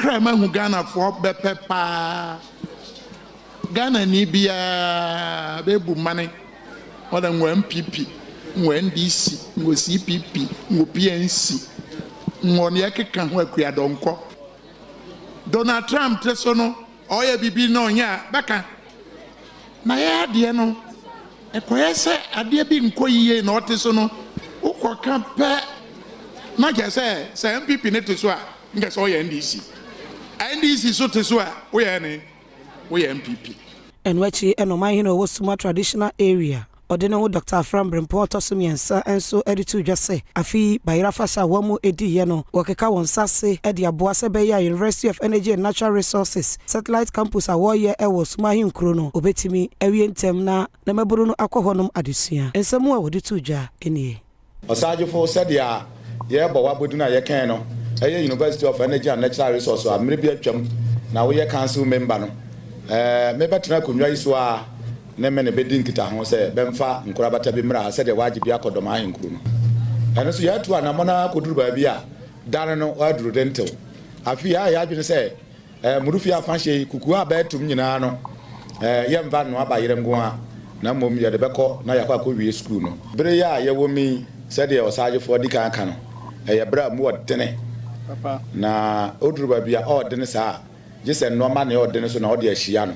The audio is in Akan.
Kra mahu Ghanafoɔ bɛpɛ paa Ghanani biaa bɛbu mmane ɔdɛ ngɔ NPP ngɔ NDC ngɔ CPP ngɔ PNC ngɔ neɛ ɛkeka ho Akua Donkɔ Donald Trump te so no Ɔyɛ biribi na ɔnyɛ a, bɛka. N'ayɛ adeɛ no, ɛkɔyɛ sɛ adeɛ bi nkɔ yie na ɔte so no, wokɔka pɛ na kyerɛ sɛ, sɛ NPP no te so a, nkyɛ sɛ woyɛ NDC. NDC nso te so a, woyɛ ɛne? Woyɛ NPP. Ɛno akyi na ɔmanhene a ɔwɔ Suma Traditional Area. Ɔde ne ho Dɔkta Afra mberempɔn a ɔtɔ so mmiɛnsa nso de too dwa sɛ afe yi Bayerɛ afahyɛ a wɔn diiɛ no wɔkeka wɔn nsa ase de aboa sɛ ɛbɛyɛ a University of Energy and Natural Resources Satellite Campus a wɔreyɛ wɔ Suma Ahenkuro no wɔbɛtumi awie ntɛm na na mmabunu no akɔ hɔnom adesua. Nsɛm a wɔde too dwa nie. Ɔsaagyefo, sɛdeɛ yɛrebɔ w'abɔdin a yɛkɛn no yɛ University of Energy and Natural Resource a mmerɛ bi atwam na woyɛ council member no, mebɛtena akonnwa yi so ara ne mene bɛdi nkitaho sɛ bɛmfa nkorabata bi mmra ha sɛdeɛ woagye bi akɔ Dɔm Ahenkuro no. Ɛno nso yɛatu anamɔn ara kɔduru baabi a dane no aduru dentew. Afei yɛayɛ yɛn adwene sɛ Mmorifie afahyɛ yi, kuku a bɛatum nyinaa no, yɛmfa nnoa ba yere nko ara, na mmom yɛde bɛkɔ na yɛakɔ akɔwie sukuu no. Bere yi a yɛwɔ mu yi, sɛdeɛ ɔsaagyefo adi kan aka no, ɛyɛ bere a mu yɛ dene, na oduru baabi a ɔredene saa a, gye sɛ nnoɔma nea ɔredene so na ɔde ahyia no.